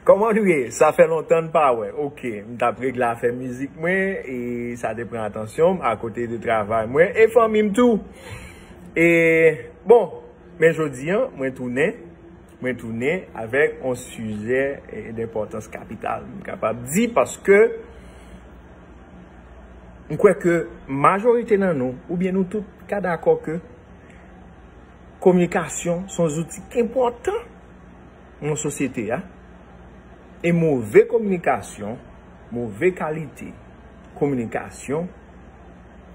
Kòman nou ye? Sa fè lontan n pa wè. Ok, m t ap regle afè mizik mwen e sa te pran atansyon m akote de travay mwen e fanmi m tou. E, bon, men jodi an, mwen tounen, mwen tounen avèk yon sijè denpòtans kapital, m kapab di, paske m kwè ke majorite nan nou, oubyen nou tout, ka dakò ke kominikasyon s on zouti enpòtan. nan sosyete a, e move kominikasyon, move kalite kominikasyon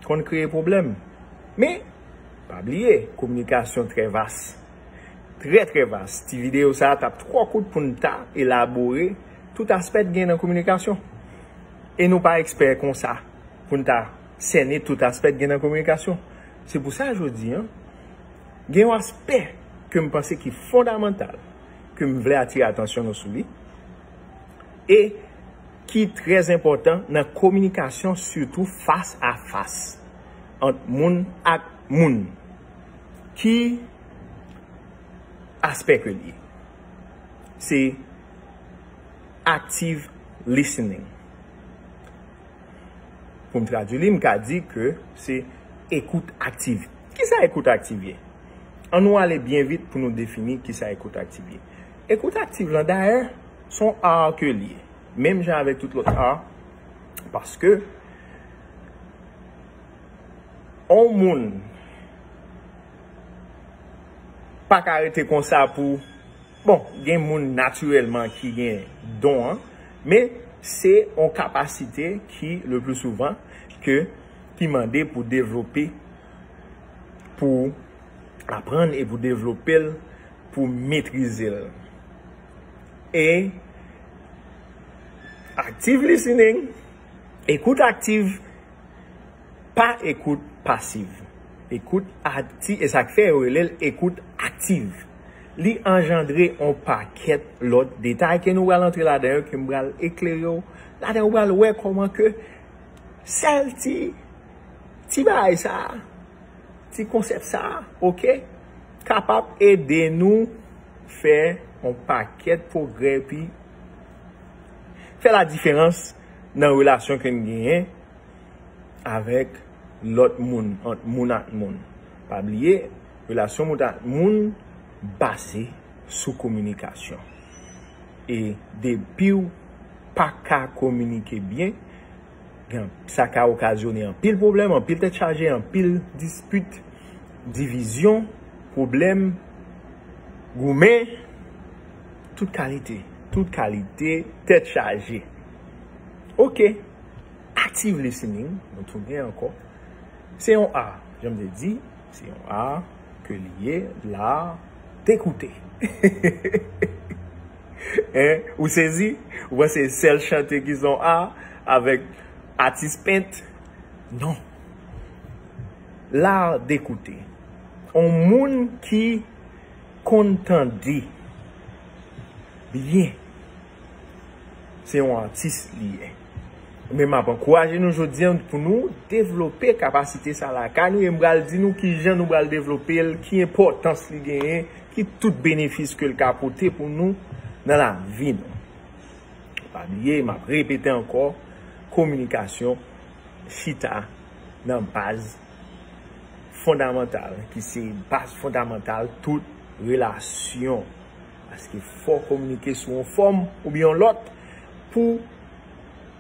konn kreye pwoblèm. Men, pa bliye, kominikasyon trè vas, trè trè vas. Ti videyo sa a t ap twò kout pou n ta elabore tout aspè t gen nan kominikasyon. E nou pa ekspè konsa pou n ta sène tout aspè t gen nan kominikasyon. Se pou sa jodi an. Gen yon aspè ke m panse ki fondamantal ke m vle atire atansyon nou sou li e ki trè enpòtan nan kominikasyon sitou fas a fas ant moun ak moun. Ki aspè ke l ye? Se active listening. Pou m tradui li, m ka di ke se ekout aktiv. Kisa ekout aktiv ye? An nou ale byen vit pou nou defini kisa ekout aktiv ye. Ekout aktiv lan, dayè, se yon art ke li ye. Menm jan avèk tout lòt art, paske yon moun pa ka rete konsa pou. Bon, gen moun natirèlman ki gen don an, men se yon kapasite ki le pli souvan ke ki mande pou devlope, pou aprann e pou devlope l, pou metrize l. E active listening, ekout aktiv, Pa ekout pasiv. Ekout akti, e sa k fè yo rele l ekout aktiv, li anjandre on pakèt lòt detay ke nou pral antre ladan yo, ke m pral eklere w ladan, ou pral wè kòman ke sèl ti, ti bagay sa a, ti konsèp sa a, ok, kapab ede nou fè on pakèt pwogrè epi fè ladiferans nan relasyon ke n genyen. avèk lòt moun, ant moun ak moun. Pa bliye, relasyon moun ak moun baze sou kominikasyon. E depi w pa ka kominike byen, sa ka okazyone anpil pwoblèm, anpil tèt chaje, anpil dispit, divizyon, pwoblèm, goumen, tout kalite, tout kalite tèt chaje. Ok! Active listening, nou tounen ankò. Se yon ar, jan m te di, se yon ar ke li ye, l'art d'écouter. Hein? Ou sezi? Ou panse se sèl chante ki se yon ar avèk atis pent? Non. L'art d'écouter. On moun ki konn tande byen. Se yon atis li ye. Men m ap ankouraje nou jodi an pou nou devlope kapasite sa lakay nou e m pral di nou ki jan nou pral devlope l, ki enpòtans li genyen, ki tout benefis ke l ka pote pou nou nan lavi nou. Pa bliye, m ap repete ankò, kominikasyon chita nan baz fondamantal ki se baz fondamantal tout relasyon. Paske fò w kominike sou yon fòm oubyen yon lòt pou w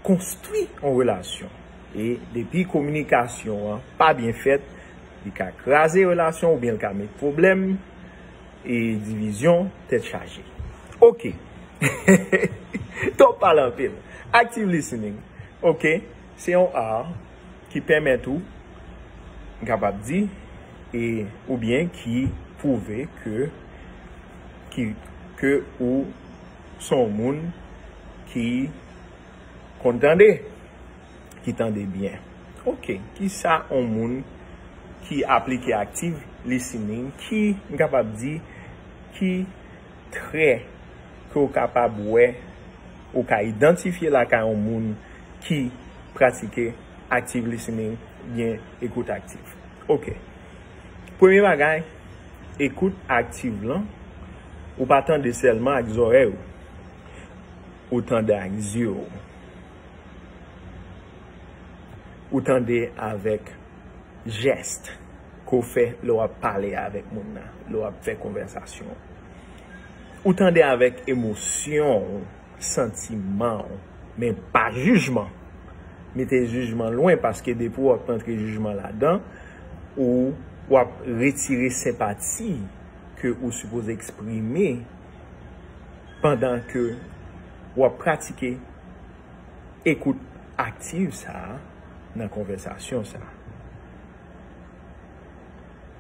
konstwi yon relasyon. E depi kominikasyon an pa byen fèt, li ka kraze relasyon an oubyen li ka met pwoblèm e divizyon, tèt chaje. Ok! Ton pale anpil. Active listening. Ok! Se yon art ki pèmèt ou, m kapab di, e oubyen ki pwouve ke ki ke ou s on moun ki konn tande, ki tande byen. Ok, ki sa on moun ki aplike active listening ki, m kapab di, ki. Trè ke ou kapab wè ou ka idantifye lakay on moun ki pratike Active Listening oubyen Ekout Aktif. Ok. Premye bagay, Ekout Aktiv lan, ou pa tande sèlman ak zòrèy ou. Ou tande ak zye ou. Ou tande avèk. jèst ke w fè lè w ap pale avèk moun nan, lè w ap fè konvèsasyon an. Ou tande avèk emosyon w, santiman w, men pa jijman. Mete jijman lwen paske depi w ap rantre jijman ladan, ou w ap retire senpati ke ou sipoze eksprime pandan ke w ap pratike. Ekout aktiv sa a nan konvèsasyon sa a.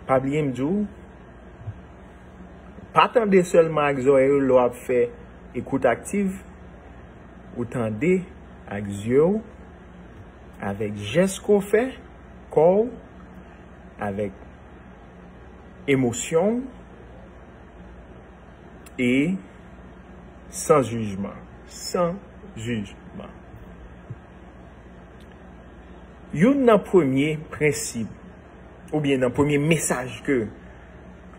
Pa bliye m di w, pa tande sèlman ak zòrèy ou lè w ap fè ekout aktiv, ou tande ak zye w, avèk jès ke w fè, kò w, avèk emosyon w. e san jijman. San jijman. Youn nan premye prensip oubyen nan premye mesaj ke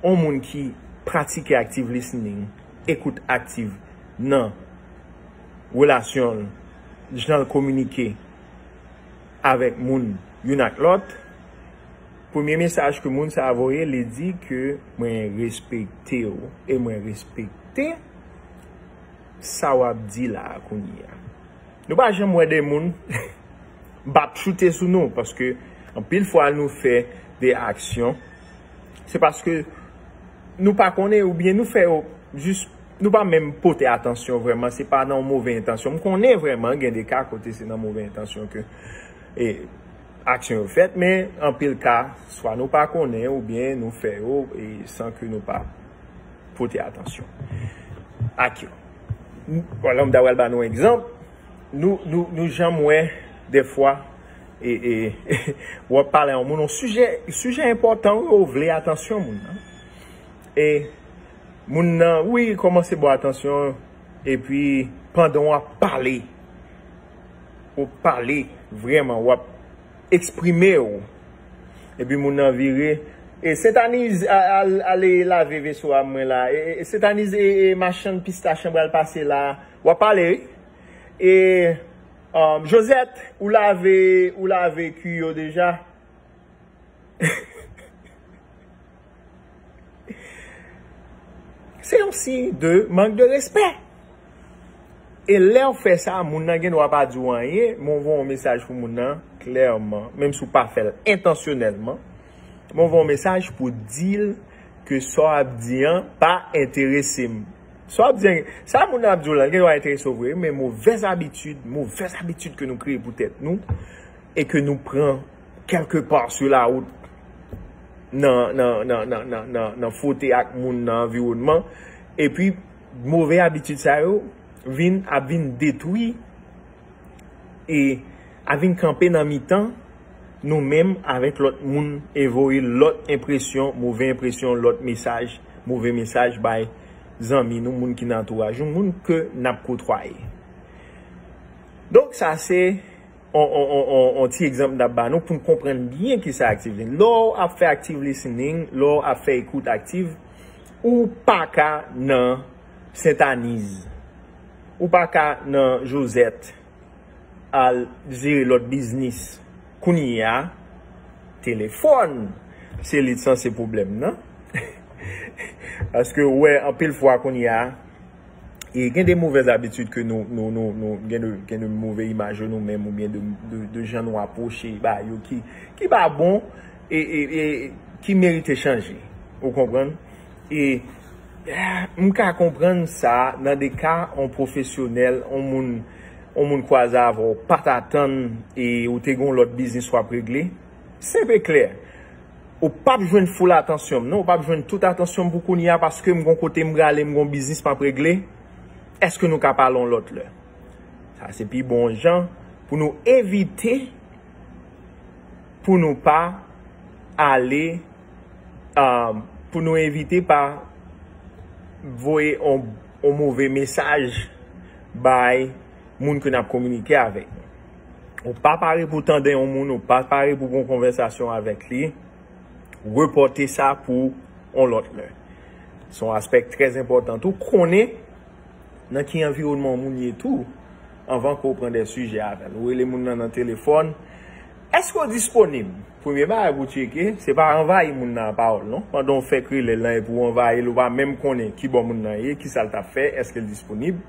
yon moun ki pratike active listening, ekout aktiv, nan relasyon l, jan l kominike avèk moun youn ak lòt, Premye mesaj ke moun sa voye li di ke mwen respekte w e mwen respekte sa wap di la kounye a. Nou pa janm wè de moun bap choute sou nou paske anpil fwa nou fè de aksyon se paske nou pa konnen ou byen nou fè yo jis nou pa menm pote atansyon vreman se pa nan yon move entansyon. M konnen vreman gen de ka kote se nan move entansyon ke e. Aksyon yo fèt, men anpil ka, swa nou pa konnen oubyen nou fè yo san ke nou pa pote atansyon ak yo. Lè m ta pral ba nou yon egzanp, nou janm wè dèfwa w ap pale a yon moun yon sijè, sijè enpòtan wi, ou vle atansyon moun nan, e moun nan wi kòmanse ba w atansyon, epi pandan w ap pale. Ou pale vreman wap exprime ou. Epi moun nan vire E sentaniz ale lave veso a mwen la E sentaniz e machann pistach an pral pase la Wap pale wi E Josette ou lave ou lave kwi yo deja. Se yon siy de mank de respè. E lè ou fè sa, moun nan gen dwa pa di ou anyen, men ou voye yon mesaj pou moun nan, klèman, menm si ou pa fè l entansyonèlman, men ou voye yon mesaj pou di l ke sa w ap di an pa enterese m. Sa w ap di an, sa moun nan ap di w lan, li gen dwa enterese w vre, men movèz abitid, movèz abitid ke nou kreye pou tèt nou, e ke nou pran kèlke pa sou lawout nan fwote ak moun nan anviwònman, epi move abitid sa yo vin ap vin detwi e ap vin kanpe nan mitan nou menm avèk lòt moun e voye lòt enpresyon, move enpresyon, lòt mesaj, move mesaj bay zanmi nou, moun ki nan antouraj nou, moun ke n ap kotwaye. Donk sa se. On ti egzanp n ap ba nou pou n konprann byen ki sa aktiv listening. Lè w ap fè aktiv listening, lè w ap fè ekout aktiv, ou pa ka nan Sentaniz, ou pa ka nan Josèt al jere lòt biznis. Kounye a, telefòn se li t sanse pwoblèm nan. Paske ou wè anpil fwa kounye a. E gen de movèz abitid ke nou, nou, nou, nou gen de, gen de move imaj yo nou menm oubyen de, de, de jan nou apwoche ba yo ki, ki pa bon e, e, e ki merite chanje. Ou konprann? E, m ka konprann sa nan de ka on pwofesyonèl, on moun, on moun kwaze avè w, pa t atann e ou te gen yon lòt biznis w ap regle. Senp e klè. Ou pap jwenn full atansyon m non, ou pap jwenn tout atansyon m pou kounye a paske m gon kote m prale, m gon biznis m ap regle, èske nou ka pale yon lòt lè? Sa se pi bon jan pou nou evite pou nou pa ale, pou nou evite pa voye yon move mesaj bay moun ke n ap kominike avèk. Ou pa pare pou tande yon moun, ou pa pare pou gon konvèsasyon avèk li, repòte sa pou yon lòt lè. Se yon aspè ki trè enpòtan tou. Konnen nan ki anviwònman yon moun ye tou anvan ke w pran de sijè avè l. Ou rele moun nan nan telefòn, Èske w disponib? Premye bagay pou w tcheke, se pa anvayi moun nan a pawòl non. Pandan w fèk rele l lan epi w anvayi l, ou pa menm konnen kibò moun nan ye, kisa l t ap fè, èske l disponib.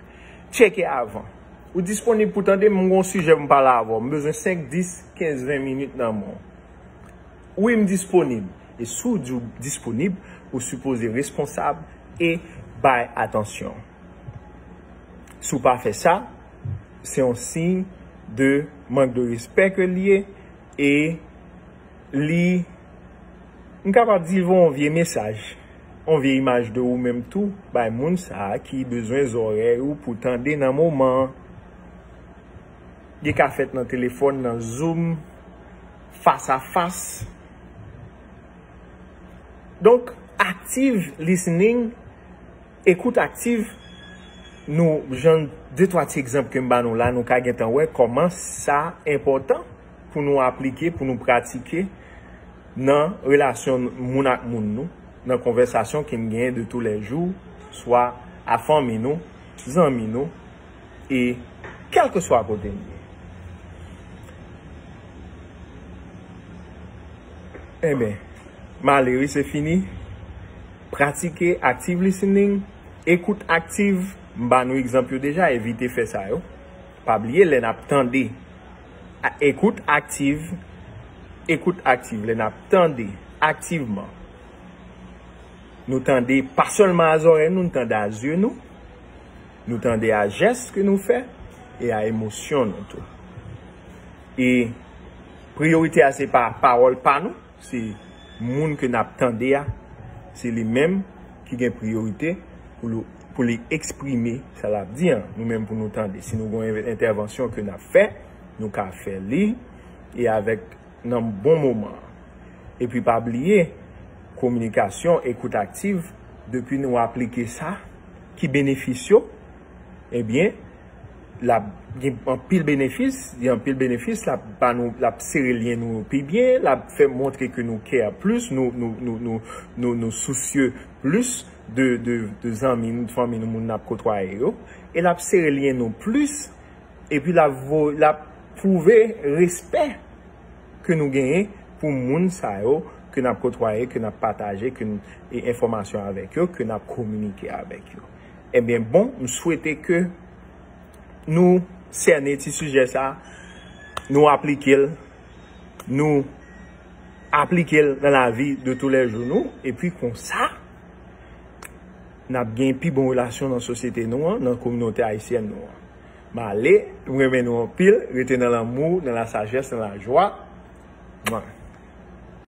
Tcheke avan. Ou disponib pou tande m? M gon sijè pou m pale avè w. M bezwen 5, 10, 15, 20 minit nan men w. Wi, m disponib. E si w di w disponib, ou sipoze responsab e bay atansyon. Si w pa fè sa, se yon siy de mank de respè ke l ye. E li, m kapab di, voye yon vye mesaj, yon vye imaj de ou menm tou bay moun sa a ki bezwen zòrèy ou pou tande nan moman an. Li ka fèt nan telefòn, nan zoom, fas a fas. Donk, active listening. Ekout aktiv, Nou jan de twa ti egzanp ke m ba nou la, nou ka gentan wè kòman sa enpòtan pou nou aplike, pou nou pratike nan relasyon moun ak moun nou, nan konvèsasyon ke n genyen de tou lè jou, swa a fanmi nou, zanmi nou, e kèlkeswa kote n ye. Enben, m ale wi, se fini. Pratike Active Listening, Ekout Aktiv, M ba nou egzanp yo deja, evite fè sa yo. Pa bliye lè n ap tande Ekout Aktiv, Ekout Aktiv, lè n ap tande aktivman, nou tande pa sèlman a zòrèy nou, nou tande a zye nou, nou tande a jès ke nou fè e a emosyon nou tou. E priyorite a se pa pawòl pa nou. Se moun ke nap tande a, se li menm ki gen priyorite pou li eksprime sa lap di an. Nou menm pou nou tande. Si nou gen yon entèvansyon ke nap fè, nou ka fè li e avèk nan bon moman an. E pi pa bliye, kominikasyon, ekout aktiv, depi nou aplike sa, ki benefis yo? ebyen lap gen anpil benefis, gen anpil benefis, lap ba nou, lap sere lyen nou yo pi byen, lap fè montre ke nou care plis, nou sousye plis de zanmi nou, de fanmi nou, moun nap kotwaye yo, e lap sere lyen nou plis, epi lap pwouve respè ke nou genyen pou moun sa yo ke nap kotwaye, ke nap pataje, ke nou, e enfòmasyon avèk yo, ke nap kominike avèk yo. Ebyen bon m swete ke nou sène ti sijè sa nou aplikel nou aplikel nan lavi de tou lè jou nou epi konsa nap gen pi bon relasyon nan sosyete nou an nan kominote ayisyèn nou an m ale m renmen nou anpil rete nan lanmou nan la sajès nan la jwa mwa.